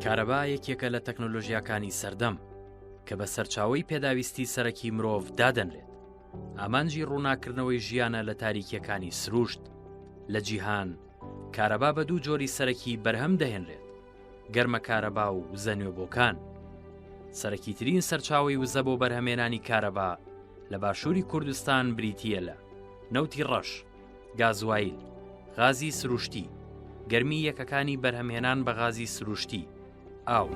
کارەبا یەکێکە لە تەکنۆلۆژیاکانی سەردەم کە بە سەرچاوی پێداویستی سەرەکی مرۆڤ دادەنرێت ئامانجی ڕووناکردنەوەی ژیانە لە تاریکیەکانی سروشت لە جیهان کارەبا بە دوو جۆری سەرەکی بەرهەم دەهێنرێت گەرمە کارەبا و وزە نوێبۆکان سەرەکی ترین سەرچاوی وزە بۆ بەرهەمێنانی کارەبا لە باشووری کوردستان بریتە لە نەوتی ڕەش گازوایل، غازی سروشتی، گەرمی یەکەکانی بەرهەمهێنان بە غازی سروشتی، ئاو.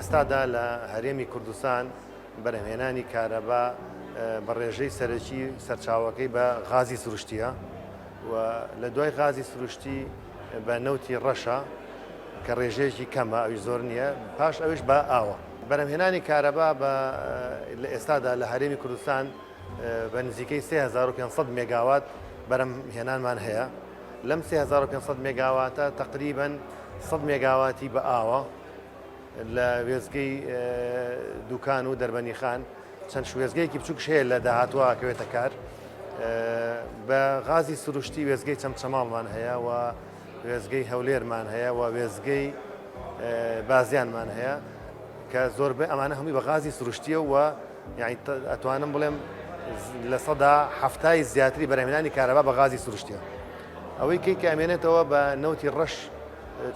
ئێستادا لە هەرێمی کوردستان بەرهمێنانی کارەبا بە ڕێژەی سەرەکی سەرچاوەکەی بە غازی سروشتیە و لە دوای غازی سروشتی بە نەوتی ڕەشە کە ڕێژەیەکی کەمە ئەوی زۆر نییە پاش ئەوش بە ئاوە بەرەمهێنانی کارەبا بە لە ئێستادا لە هەرێمی کوردستان بە نزیکەی 3500 مێگاوات بەرەم هێنانمان هەیە لەم 3500 مێگاواتە تقریبن 100 مێگاواتی بە ئاوە لە وێزگەی دوکان و دەربەنیخان چەند شوێسگەیەکی بچووکش هەیە لە داهاتووە ئەکەوێتە کار بە غازی سروشتی وێزگەی چەمچەماڵمان هەیە و وێزگەی هەولێرمان هەیە و وێزگەی بازیانمان هەیە کە زۆربەی ئەمانە هەمووی بە غازی سروشتیە و یعنی ئەتوانم بڵێم لە سەدا هەفتای زیاتری بەرهمێنانی کارەبا بە غازی سروشتیە ئەوەی کەی کامێنێتەوە بە نەوتی ڕەش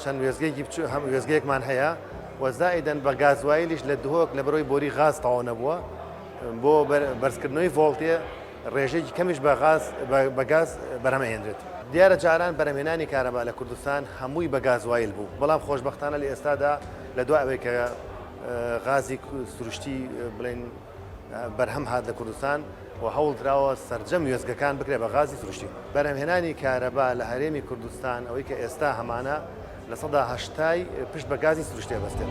چەند وێزگەیەکی بچوو هەم وێزگەیەکمان هەیە و زائیدەن بە گازوایلیش لە دهۆک لە بەرەوەی بۆری غاز تەواو نەبووە بۆ بەرزکردنەوەی ڤۆڵتێ ڕێژێکی کەمیش بە غاز بە گاز بەرهەمەهێنرێت دیارە جاران بەرەمێنانی کارەبا لە کوردستان هەمووی بە گازوایل بوو بەڵام خۆشببختانە لە ئێستادا لە دو ئەوەی کە غازی سروشتی بڵێن بەرهەم هات لە کوردستان و هەوڵ دراوە سەرجەم وێستگەکان بکرێت بە غازی سروشتی. بەرهەمهێنانی کارەبا لە هەرێمی کوردستان ئەوەی کە ئێستا هەمانە لە سەدا هەشتای پشت بە گازی سروشتێ بەستێت.